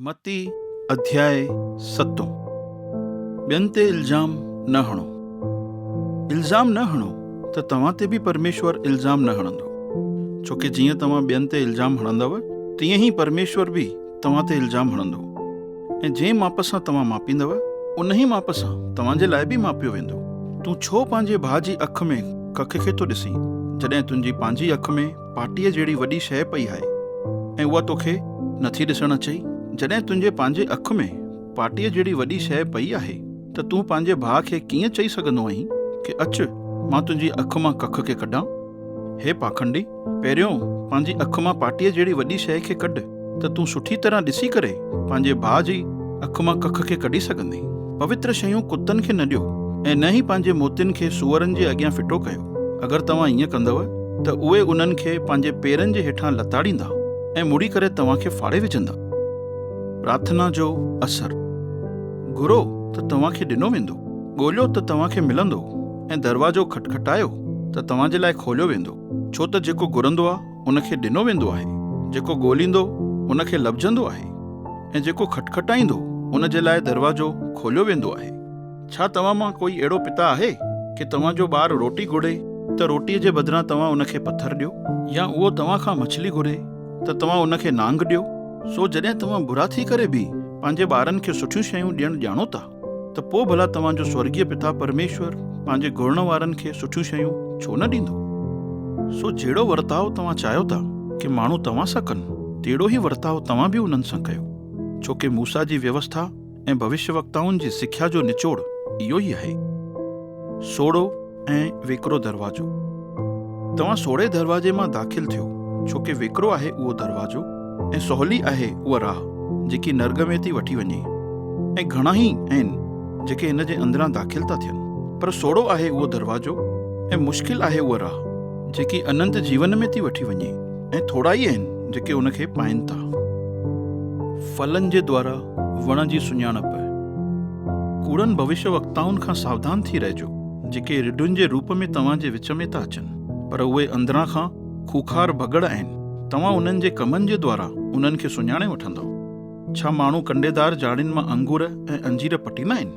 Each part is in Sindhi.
متي اڌياء ستون ٻين تي الزام نه هڻو، الزام نه هڻو ته توهان تي به پرميشور الزام نه هڻندو، ڇو ڪي جيئن توهان ٻين تي الزام هڻندؤ تيئن ئي پرميشور به توهان تي الزام هڻندو ۽ جنهن ماپ سان توهان ماپيندؤ انهي ماپ سان توهان جي لاء به ماپيو ويندو. تون ڇو پنهنجي ڀاء جي اک ۾ ڪک کي ٿو ڏسين جڏهن تنهنجي پنهنجي اک ۾ پاٽيء جهڙي وڏي شيء پئي آهي ۽ اها توکي نٿي ڏسڻ اچئي؟ جڏهن تنهنجي پنهنجي اک ۾ پاٽيء جهڙي وڏي شيء پئي آهي ته تون پنهنجي ڀاء کي ڪيئن چئي سگهندو آهين ڪي اچ مان تنهنجي اک مان ڪک کي ڪڍان؟ هي پاکنڊي! پهريون پنهنجي اک مان پاٽيء جهڙي وڏي شيء کي ڪڍ. ته تون سٺي طرح ڏسي ڪري پنهنجي ڀاء جي اک مان ڪک کي ڪڍي سگهندين. پوتر شيون ڪتن کي نه ڏيو ۽ نه ئي پنهنجي موتين کي سوئرن جي اڳيان ڦٽو ڪيو. اگر توهان ائين ڪندؤ ته اهي انهن کي پنهنجي پيرن جي هيٺان لتاڙيندا ۽ مڙي ڪري توهان کي ڦاڙي وجهندا. پرارٿنا جو اثر، گهرو ته توهان کي ڏنو ويندو، ڳوليو ته توهان کي ملندو ۽ دروازو کٽکٽايو ته توهان جي لاء کوليو ويندو، ڇو ته جيڪو گهرندو آهي، ان کي ڏنو ويندو آهي. جيڪو ڳوليندو ان کي لڀجندو آهي ۽ جيڪو کٽکٽائيندو ان جي لاء دروازو کوليو ويندو آهي. ڇا توهان مان ڪوئي اهڙو پتا آهي ڪي توهان جو ٻار روٽي گهري ته روٽيء جي بدران توهان ان کي پٿر ڏيو يا اهو توهان کان مڇلي گهري ته توهان ان کي نانگ ڏيو؟ سو جڏهن توهان برا ٿي ڪري به پنهنجي ٻارن کي سٺيون شيون ڏيڻ ڄاڻو ٿا. ته پوء ڀلا توهان جو سورڳيه پتا پرميشور پنهنجي گهرڻ وارن کي سٺيون شيون ڇو نه ڏيندو؟ سو جهڙو ورتاء توهان چاهيو ٿا ڪي ماڻهو توهان سان ڪن، تهڙو ئي ورتاء توهان به انهن سان ڪيو، ڇو ڪي موسيٰ جي ويوسٿا ۽ ڀوشيوڪتائن جي سکيا جو نچوڙ اهو ئي آهي. سوڙهو. ۽ ويڪرو دروازو. توهان سوڙهي دروازي مان داخل ٿيو، ڇو ڪي ويڪرو آهي اهو دروازو ۽ سولي آهي اها راهه جيڪي نرڳ ۾ ٿي وٺي وڃي ۽ گهڻا ئي آهن جيڪي ان جي اندران داخل ٿا ٿين پر سوڙهو آهي اهو دروازو ۽ مشڪل آهي اها راهه جيڪي اننت جيون ۾ ٿي وٺي وڃي ۽ ٿورا ئي آهن جيڪي ان کي پائين ٿا. ڦلن جي دوارا وڻ جي سڃاڻپ. ڪوڙن ڀوشيوڪتائن کان ساوڌان ٿي رهجو. جيڪي رڍن جي روپ ۾ توهان جي وچ ۾ ٿا اچن، پر اهي اندران کان کوکار ڀڳڙ آهن. توهان انهن جي ڪمن جي دوارا انهن کي سڃاڻي وٺندؤ. ڇا ماڻهو ڪنڊيدار جاڙين مان انگور ۽ انجير پٽيندا آهن؟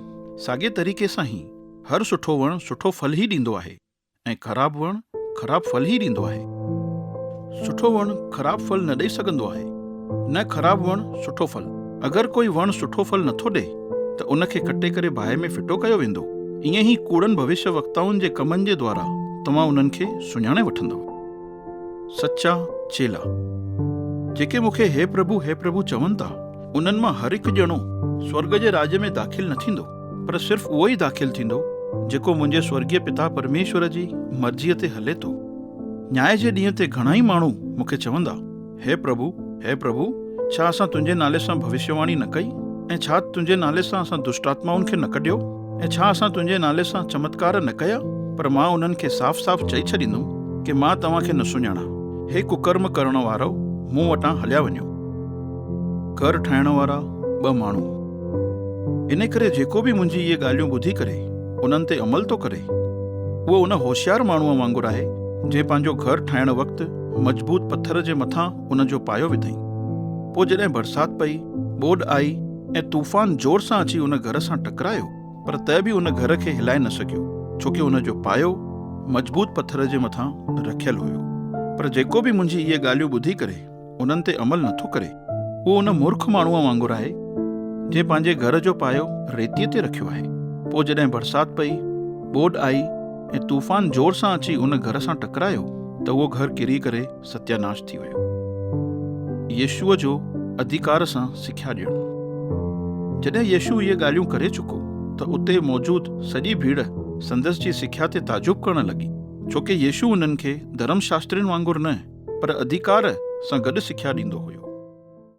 ساڳئي طريقي سان هي هر سٺو وڻ سٺو ڦل ئي ڏيندو آهي ۽ خراب وڻ خراب ڦل ئي ڏيندو آهي. سٺو وڻ خراب ڦل نه ڏئي سگهندو آهي. نه خراب وڻ سٺو ڦل. اگر ڪوئي وڻ سٺو ڦل نٿو ڏئي ته ان کي ڪٽي ڪري باهه ۾ ڦٽو ڪيو ويندو. ائين ئي ڪوڙن ڀوشيه وڪتائن جي ڪمن جي دوارا توهان انهن کي سڃاڻي وٺندؤ. سچا چيلا جيڪي مون کي هي پرڀو هي پرڀو چون ٿا انهن مان هر هڪ ڄڻو سورڳ جي راڄ ۾ داخل نه ٿيندو پر صرف اهو ئي داخل ٿيندو جيڪو منهنجي سورڳيه پتا پرميشور جي مرضيء تي هلي ٿو. نياء جي ڏينهن تي گهڻائي ماڻهو مون کي چوندا. هي پرڀو! هي پرڀو! ڇا اسان تنهنجي نالي سان ڀوشيواڻي نه ڪئي؟ ۽ ڇا تنهنجي نالي سان اسان دشٽآتمائن کي نه ڪڍيو؟ ۽ ڇا اسان تنهنجي نالي سان چمتڪار نه ڪيا؟ پر مان انهن کي صاف صاف چئي ڇڏيندم ڪي مان توهان کي نه سڃاڻان. هي ڪڪرم ڪرڻ وارؤ، مون وٽان هليا وڃو. گهر ٺاهڻ وارا ٻه ماڻهو. انهي ڪري جيڪو به منهنجي اهي ڳالهيون ٻڌي ڪري انهن تي عمل ٿو ڪري، اهو ان هوشيار ماڻهوء وانگر آهي جنهن پنهنجو گهر ٺاهڻ وقت، مضبوط پٿر جي مٿان ان جو پايو وڌائين. پوء جڏهن برسات پئي، ٻوڏ آئي ۽ طوفان زور سان اچي ان گهر سان ٽڪرايو پر ته به ان گهر کي هلائي نه سگهيو ڇو ڪي ان جو پايو مضبوط پٿر جي مٿان رکيل هيو. پر جيڪو به منهنجي اهي ڳالهيون ٻڌي ڪري انهن تي عمل نه ٿو ڪري اهو ان مورک ماڻهوء وانگر آهي جنهن پنهنجي گهر جو پايو ريتيء تي رکيو آهي. پوء جڏهن برسات پئي، ٻوڏ آئي، ۽ طوفان زور سان اچي ان گهر سان ٽڪرايو ته اهو گهر ڪري ڪري ستياناش ٿي ويو. يسوع جو اڌيڪار سان سکيا ڏيڻ. جڏهن يسوع اهي ڳالهيون ڪري چڪو ته اتي موجود سڄي ڀيڙ سندس جي سکيا تي تعجب ڪرڻ لڳي، ڇو ڪي يسوع انهن کي ڌرم شاسترين وانگر نه پر اڌيڪار سان گڏ سکيا ڏيندو هيو.